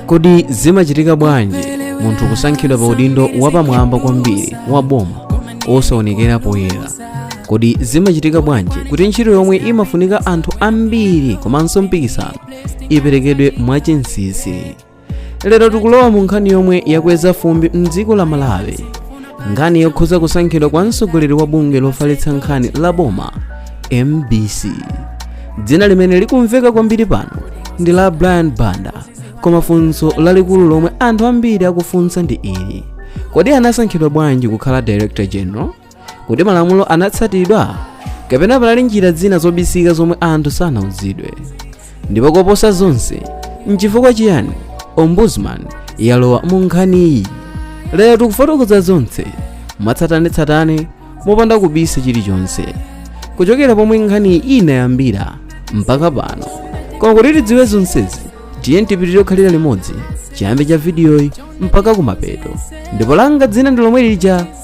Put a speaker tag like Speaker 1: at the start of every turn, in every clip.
Speaker 1: kodi zimachitika bwanji munthu kusankhidwa pa udindo wapamwamba kwambiri wa boma osaonekera poyera kodi zimachitika bwanji kuti ntchito yomwe imafunika anthu ambiri komanso mpikisano iperekedwe mwachinsinsi lero tikulowa mu nkhani yomwe yakweza fumbi mdziko la malawi nkhani yokhuza kusankhidwa kwa mtsogoleri wa bungwe lofalitsa nkhani la boma mbc dzina limene likumveka kwambiri pano ndi la brian banda koma funso lalikulu lomwe anthu ambiri akufunsa ndi ili kodi anasankhidwa bwanji kukhala director general kodi malamulo anatsatidwa kapena panali njira zina zobisika zomwe anthu sanauzidwe ndipo koposa zonse nchifukwa chiyani ombudsman yalowa mu nkhaniyi lero tikufotokoza zonse mwatsatanetsatane mopanda kubisa chilichonse kuchokera pomwe nkhaniyi inayambira mpaka pano koma kuti tidziwe zonsezi tiyeni tipitirire kukhalira limodzi chiyambi cha vidiyoyi mpaka kumapeto ndipo langa dzina ndi lomwe lija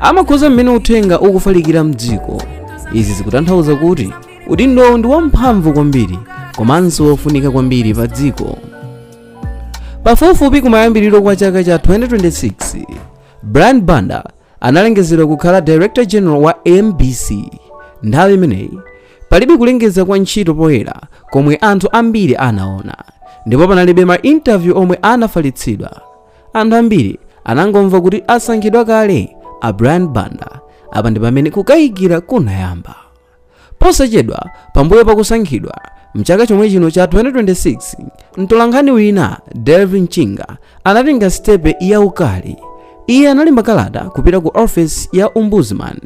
Speaker 1: amakhuza mmene uthenga ukufalikira mdziko izi zikutanthauza kuti udindowu ndi wamphamvu kwambiri komanso wofunika kwambiri pa dziko pafupifupi kumayambiriro kwa chaka cha 2026 brian banda analengezedwa kukhala director general wa mbc nthawi imeneyi palibe kulengeza kwa ntchito poyera komwe anthu ambiri anaona ndipo panalibe ma interview omwe anafalitsidwa Anthu ambiri anangomva kuti asankhidwa kale a Brian Banda. Apa ndi pamene kukayikira kunayamba. Posachedwa pambuyo pa kusankhidwa mchaka chomwe chino cha 2026, mtolankhani wina Delvin Chinga anatenga sitepe yaukali. Iye analemba kalata kupita ku ofesi ya Ombudsman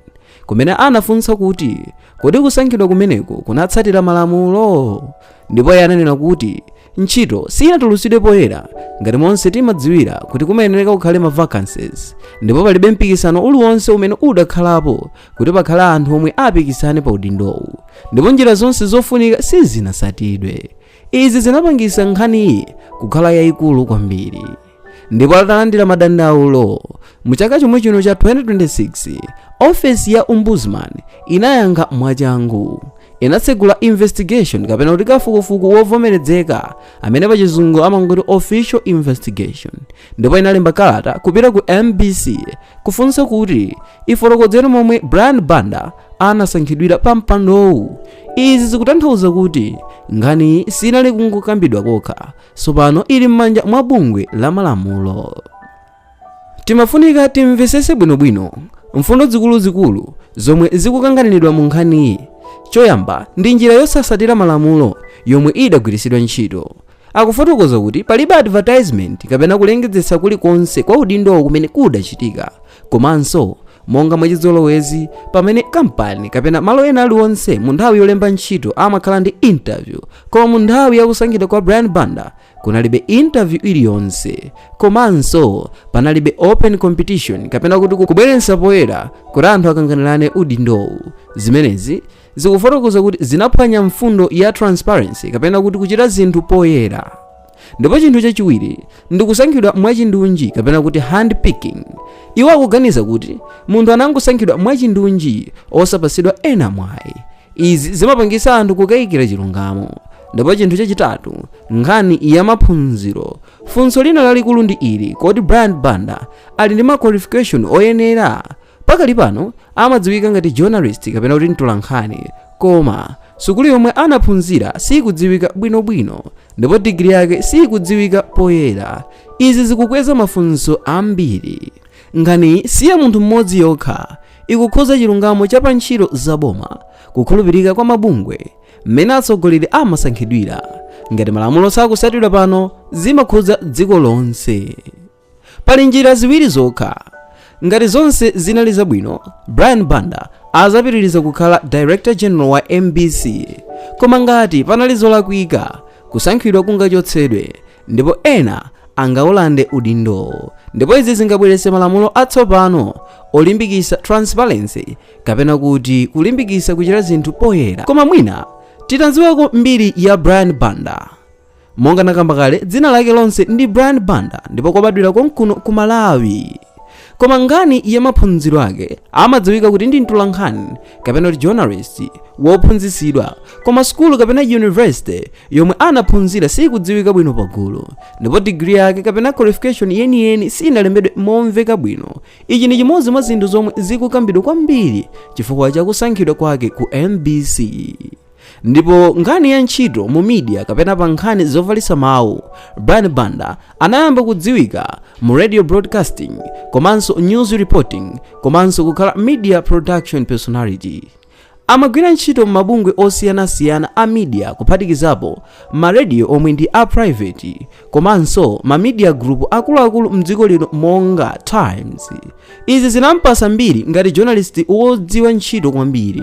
Speaker 1: kumene anafunsa kuti kodi kusankhidwa kumeneko kunatsatira malamulo ndipo iye ananena kuti ntchito siyinatulutsidwe poyera ngati monse timadziwira kuti kumayenereka kukhale ma vacancies ndipo palibe mpikisano uliwonse umene udakhalapo kuti pakhale anthu omwe apikisane pa udindowu ndipo njira zonse zofunika sizinatsatidwe izi zinapangisa nkhaniyi kukhala yayikulu kwambiri ndipo atalandira madandaulo mu chaka chomwe chino cha 2026 ofesi ya ombudsman inayankha mwachangu inatsegula investigation kapena kuti kafukufuku wovomerezeka amene pachizungu amangoti official investigation ndipo inalemba kalata kupita ku mbc kufunsa kuti ifotokozere momwe brian banda anasankhidwira pa mpandowu izi zikutanthauza kuti nkhaniyi sinali kungokambidwa kokha tsopano ili m'manja mwa bungwe la malamulo timafunika timvesese bwinobwino mfundo zikuluzikulu zomwe zikukanganiridwa mu nkhaniyi choyamba ndi njira yosasatira malamulo yomwe idagwiritsidwa ntchito akufotokoza kuti palibe advertisement kapena kulengezesa kulikonse kwa udindowo kumene kudachitika Komanso, monga mwachizolowezi, pamene kampani kapena malo ena aliwonse mu nthawi yolemba ntchito amakhala ndi interview, koma mu nthawi ya kusankhidwa kwa Brian Banda kunalibe interview iliyonse, komanso panalibe open competition kapena kuti kubweretsa poyera kuti anthu akanganirane udindowu. Zimenezi zikufotokoza kuti zinaphwanya mfundo ya transparency kapena kuti kuchita zinthu poyera. ndipo chinthu chachiwiri ndi kusankhidwa mwachindunji kapena kuti hand picking iwo akuganiza kuti munthu anangosankhidwa mwachindunji osapatsidwa ena mwayi izi zimapangitsa anthu kukayikira chilungamo ndipo chinthu chachitatu nkhani ya maphunziro funso lina lalikulu ndi ili kodi brian banda ali ndi ma qualification oyenera Pakali pano amadziwika ngati journalist kapena kuti mtolankhani koma sukulu yomwe anaphunzira sikudziwika bwinobwino ndipo digiri yake sikudziwika poyera izi zikukweza mafunso ambiri nkhaniyi si ya munthu mmodzi yokha ikukhuza chilungamo cha pa ntchito za boma kukhulupirika kwa mabungwe mmene atsogoleri amasankhidwira ngati malamulo sakusatidwa pano zimakhudza dziko lonse pali njira ziwiri zokha ngati zonse zinali zabwino brian banda adzapitiriza kukhala director general wa mbc koma ngati panali zolakwika kusankhidwa kungachotsedwe ndipo ena angaulande udindowo ndipo izi zingabweretse malamulo atsopano olimbikisa transparency kapena kuti kulimbikisa kuchita zinthu poyera koma mwina titadziwako mbiri ya brian banda monga nakamba kale dzina lake lonse ndi brian banda ndipo anabadwira konkuno ku malawi koma nkhani ya maphunziro ake amadziwika kuti ndi mtolankhani kapena kuti journalist wophunzitsidwa koma sukulu kapena university yomwe anaphunzira sikudziwika bwino pagulu ndipo digiri yake kapena qualification yeniyeni sinalembedwe momveka bwino ichi ndi chimodzi mwa zinthu zomwe zikukambidwa kwambiri chifukwa cha kusankhidwa kwake ku mbc Ndipo nkhani ya ntchito mu media kapena pa nkhani zofalitsa mawu, Brian Banda anayamba kudziwika mu radio broadcasting komanso news reporting komanso kukhala media production personality. Amagwira ntchito m'mabungwe osiyanasiyana a media kuphatikizapo ma radio omwe ndi a private komanso ma media group akuluakulu mdziko lino monga Times. Izi zinampasa mbiri ngati journalist wodziwa ntchito kwambiri.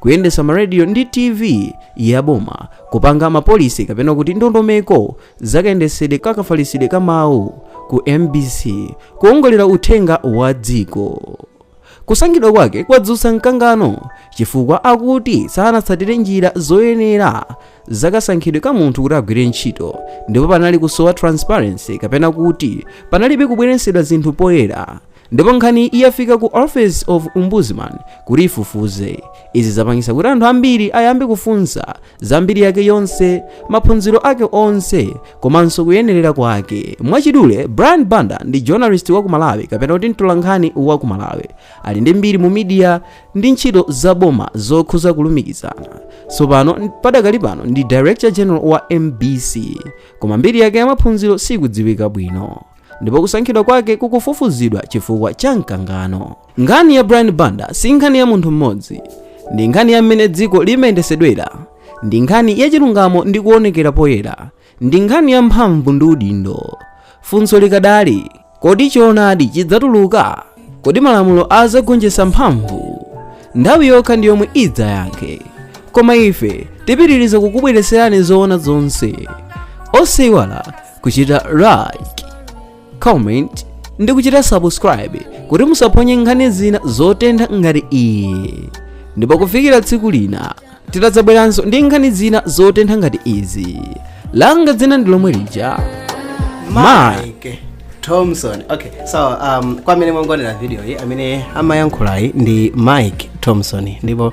Speaker 1: kuyendesa ma radio ndi tv ya boma kupanga ma policy kapena kuti ndondomeko zakayendesedwe kakafalisidwe ka mawu ku mbc kuongolera uthenga wa dziko kusankhidwa kwake kwadzutsa mkangano chifukwa akuti sanatsatire njira zoyenera zakasankhidwe ka munthu kuti agwire ntchito ndipo panali kusowa transparency kapena kuti panalibe kubweretsedwa zinthu poyera ndipo nkhani yafika ku office of ombudsman kuti ifufuze izi zapangisa kuti anthu ambiri ayambe kufunsa za mbiri yake yonse maphunziro ake onse komanso kuyenerera kwake mwachidule brian banda ndi journalist wa ku malawi kapena kuti mtolankhani wa ku malawi ali ndi mbiri mu media ndi ntchito za boma zokhuza kulumikizana tsopano padakali pano ndi director general wa mbc koma mbiri yake ya maphunziro sikudziwika bwino ndipo kusankhidwa kwake kukufufuzidwa chifukwa cha mkangano. Nkhani ya Brian Banda si nkhani ya munthu mmodzi, ndi nkhani ya mmene dziko limayendesedwera, ndi nkhani ya chilungamo ndi kuonekera poyera, ndi nkhani ya mphamvu ndi udindo. Funso likadali, kodi choonadi chidzatuluka? Kodi malamulo azagonjesa mphamvu? Nthawi yokha ndi yomwe idzayankhe, koma ife tipitiriza kukubweretserani zoona zonse. Osaiwala kuchita like comment ndi kuchita subscribe kuti musaphonye nkhani zina zotentha ngati iyi ndipo kufikira tsiku lina tidzabweranso ndi nkhani zina zotentha ngati izi langa dzina ndi lomwe lija Mike
Speaker 2: Thompson. Okay, so um, kwa amene mwangoonera video iyi amene amayankhulayi ndi Mike Thompson ndipo